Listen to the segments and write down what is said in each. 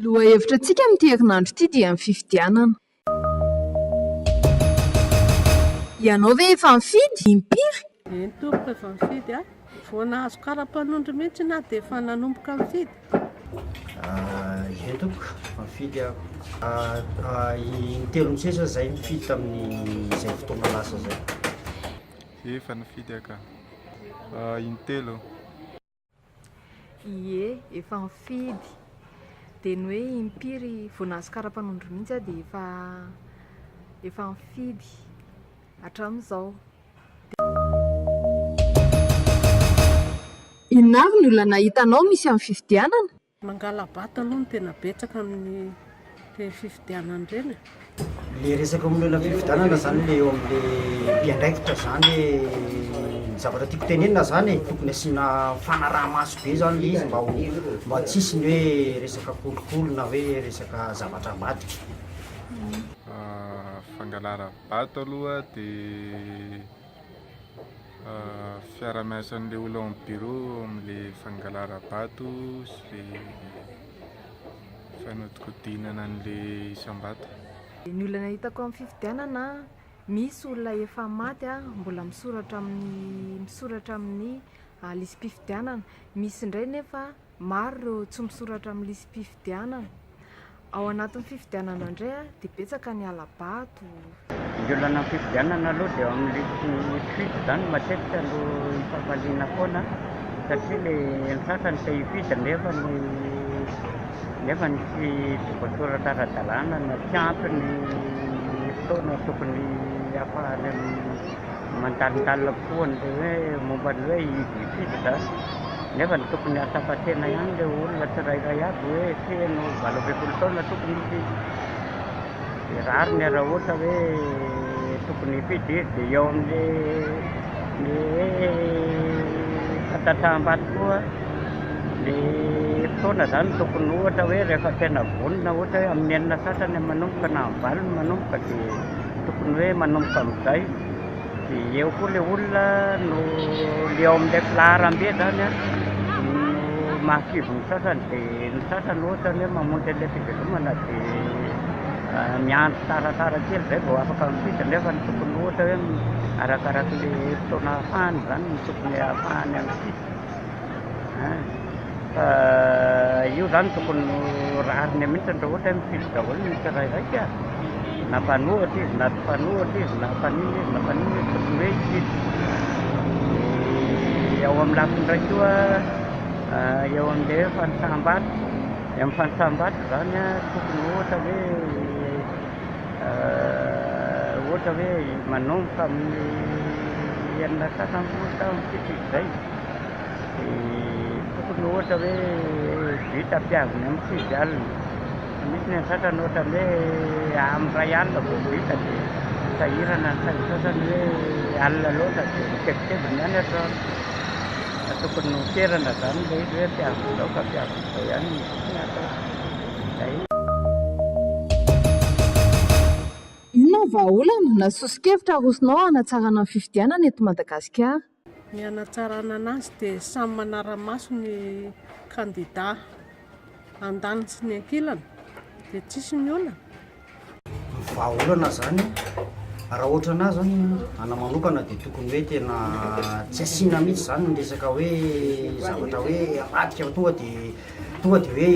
Lohahevitra antsika amin'ity herinandro ity dia ny fifidianana. Ianao ve efa nifidy? Impiry? Eny tompoko efa nifidy aho. Vao nahazo karapanondro mihitsy na dia efa nanomboka mifidy? Ye tompoko, mifidy aho. Intelony sisa izay nifidy tamin'izay fotoana lasa izay. Ye, efa nifidy aho ka. Intelo. Ye, efa nifidy. Dia ny hoe impiry vao nahazo karapanondro mihitsy aho dia efa efa nifidy hatramin'izao. Inona avy ny olana hitanao misy amin'ny fifidianana? Mangala-bato aloha no tena betsaka amin'ny fifidianana ireny e! Ilay resaka momba ilay fifidianana izany ilay eo amin'ilay mpiandraikitra izany hoe ny zavatra tiako tenenina izany e, tokony asiana fanaraha-maso be izany ilay izy mba ho, mba tsy hisy ny hoe resaka kolikoly na hoe resaka zavatra ambadika. Ato aloha dia fiarahamiasan'ilay olona ao amin'ny birao amin'ilay fangalarabato sy ilay fanodinkodinana an'ilay isam-bato. Ny olana hitako amin'ny fifidianana, misy olona efa maty mbola misoratra amin'ny misoratra amin'ny lisi-pifidianana, misy indray nefa Maro ireo tsy misoratra amin'ny lisi-pifidianana. Ao anatin'ny fifidianana indray dia betsaka ny hala-bato. Ny olan'ny fifidianana aloha dia eo amin'ny lisi suite izany no matetika no ifafaliana foana satria ny ny sasany te hifidy nefa ny nefa ny tsy tsy voasoratra ara-dalàna na tsy ampy ny fotoana tokony hahafahany mandalondalona kokoa an'ilay hoe momba ny hoe hidy hifidy izany. Nefa ny tokony hahatsapa tena ihany ilay olona tsirairay avy hoe feno valo ambin'ny folo taona tokony hifidy. Dia rariny raha ohatra hoe tokony hifidy izy dia eo amin'ilay le hoe fantatraham-bato koa ilay fotoana izany tokony ohatra hoe rehefa tena vonona ohatra hoe amin'ny enina sasany manomboka na amin'ny valo manomboka dia Tokony hoe manomboka amin'izay dia eo koa ilay olona no le ao amin'ilay filaharambe zany an, no mahakivy ny sasany dia ny sasany ohatra ny hoe mamonjy an'ilay fivelomana dia miandry tsaratsara kely izay vao afaka mifidy nefa ny tokony ohatra hoe arakarak'ilay fotoana ahafahany izany no tokony ahafahany any fidy. Fa io zany tokony ho rariny mihitsy raha ohatra hoe mifidy daholo ny tsirairay ka! Na mpanohitra izy na tsy mpanohitra izy, na mpaninona izy na mpaninona izy, tokony hoe hifidy. Dia ao amin'ny lafiny iray koa, eo amin'ilay hoe fanisam-bato, dia amin'ny fanisam-bato izany an, tokony ohatra hoe, ohatra hoe manomboka amin'ny enina sy sasany folo taona mikitroka izay, dia tokony ohatra hoe but ampihaviny amin'ny sivy alina, fa misy ny an'ny sasany ohatra ny hoe amin'ny iray alina vao but dia sahirana ny sain'ny sasany hoe alina loatra dia mikebikeby ny any atoandro, ka tokony noterana izany ilay izy hoe ampihaviny izao fa ampihaviny izao ihany no tokony hatao. izay. Inona ny vahaolana na soso-kevitra arosonao hanatsarana ny fifidianana eto Madagasikara? Ny hanatsarana anazy dia samy manara-maso ny kandida andaniny sy ny ankilany dia tsisy miolana. vahaolana zany raha ohatra anah zany anah manokana de tokony hoe tena tsy asiana mihitsy zany ny resaka hoe zavatra hoe avadika fa tonga de tonga de hoe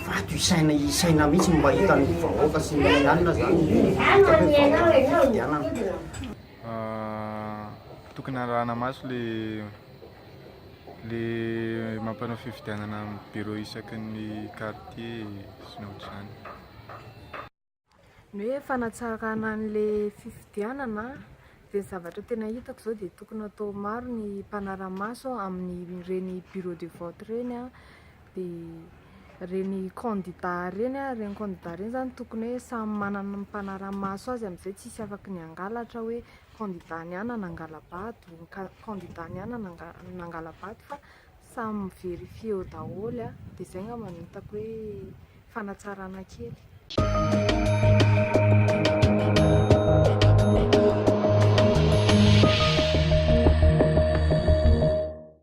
vato isaina isaina mihitsy ny mba hitan'ny vahoaka sy ny alina zany hitako hoe vahaolana ny fifidianana tokony arahana maso le le mampanao fifidianana amin'ny bureau isaky ny quartier sy ny ohatr'izany Ny hoe fanatsarana an'ilay fifidianana dia ny zavatra tena hitako izao dia tokony atao maro ny mpanara-maso amin'ireny bureau de vote ireny dia ireny kandida ireny an, ireny kandida ireny izany tokony hoe samy manana ny mpanara-maso azy amin'izay tsy hisy afaky ny hangalatra hoe kandida ny ahy na nangala-bato, kandida ny ahy na nangala-bato fa Samy mi verifier eo daholo a! Dia izay angamba no hitako hoe fanatsarana kely.